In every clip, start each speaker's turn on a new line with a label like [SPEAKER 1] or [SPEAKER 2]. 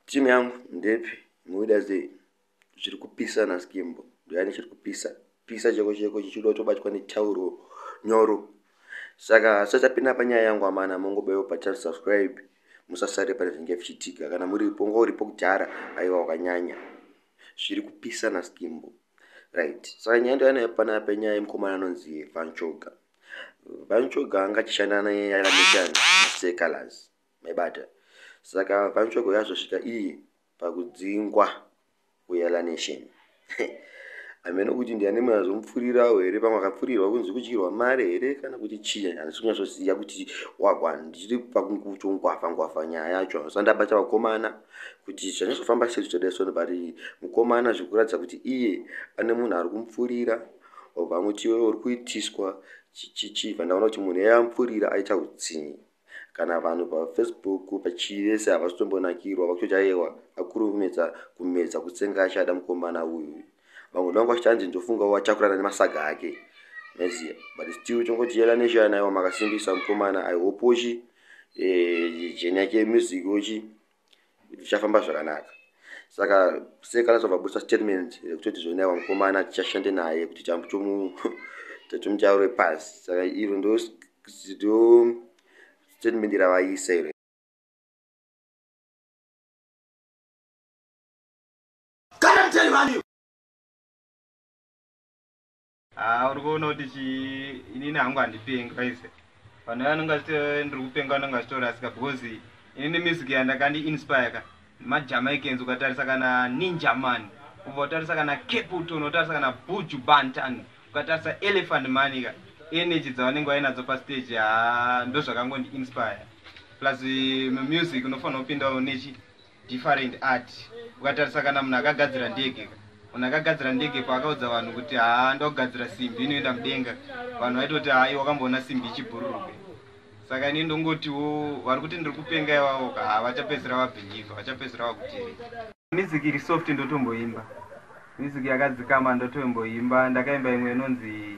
[SPEAKER 1] Team yangu ndepi muida sei zviri kupisa na skimbo ndiyani chiri kupisa pisa cheko cheko chichida kutobatwa netauro nyoro saka sachapinda panyaya yangu amana mongobewo pachar subscribe musasare pane zvinenge zvichiitika kana muripo ngo uripo kudhara aiwa wakanyanya zviri kupisa na skimbo right saka nyaya ndo yanayo pana penyaya yemukomana anonzi vanchoga vanchoga angachishanda naye yaramishana secolors Maibata? Saka VaNchoko yazosvika iyi pakudzingwa kuEla Nation. Hameno kuti ndiani munhu azomupfurirawo here pamwe akapfurirwa kunzi kudyirwa mari here kana kuti chii handisi kunyatsoziva kuti wagwa ndiri pakungwafha ngwafha nyaya yacho handisati ndabata vakomana kuti zvanyatsofamba sei zvichadai so vari mukomana zvekuratidza kuti iye ane munhu ari kumupfurira obva angoti iwewe uri kuitiswa chichichi bva ndaona kuti munhu eye amupfurira aita utsinye kana vanhu pafacebook pachive se havasitombonakirwa vakutoti ayewa akuru kumedza kumedza kutsenga achada mukomana uyu vamwe vangu vachanzi ndofunga watakurana nemasaga ake maiziva but still tongoti yela neshana aiwa makasimbisa mukomana aihopochi eh, jeni yake music ochi zvichafamba zvakanaka saka sei kana tobva busa statement rekutoti zvonewa mukomana tichashande naye kuti chambo chomu tatomuchaurwe pasi saka iro ndo ndo statement ravaisa iro kana mtani vanio
[SPEAKER 2] Haa uri kuona kuti chii inini hangu handipengi paise vanhu vaye anenge achiti eh, ndiri kupenga anenge achitorasika because inini music yandakandi inspire ka nemajamaicans ukatarisa kana ninja man ubva utarisa kana caputon utarisa kana buju bantan ukatarisa elephant mani ka energy dzavanenge vainadzo pastage haa ndozvakangondi inspire plus eh, music unofanira kupindawo nechi different art ukatarisa kana munhu akagadzira ndege ka munhu akagadzira ndege paakaudza vanhu kuti haa ndakugadzira simbi inoenda mudenga vanhu vaitoti hai wakamboona simbi ichibhururuke saka ini ndongotiwo vari kuti ndiri kupenga ivavo ka haa vachapedzisira vabhilivha vachapedzisira vakutereka music iri soft ndotomboimba music yakadzikama ndotomboimba ndakaimba imwe inonzi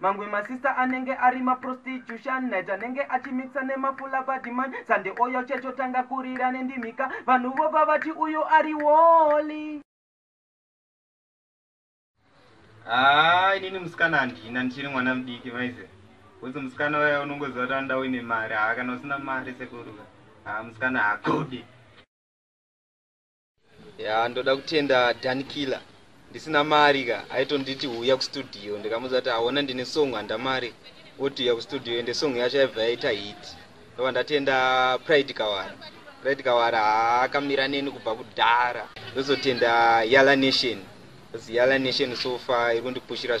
[SPEAKER 2] mamwe masista anenge ari maprostitution night anenge achimixa nemafula badiman sande oyo checho tanga kurira nendimika vanhu vobva vati uyu ari woli haa inini musikana handina ndichiri mwana mudiki maize kuzi musikana waya unongoziva kuti anoda uine mari haa kana usina mari sekuruka haa musikana hakudi ya ndoda kutenda danikila ndisina mari ka aitonditi huya kustudio ndikamuudza kuti aona ndine song handa mari oti uya kustudio ende song yacho yaibva yaita hit ndova ndatenda pride kawara pride kawara haakamira neni kubva kudhara ndozotenda yala nation bcause yala nation so far iri kundipushira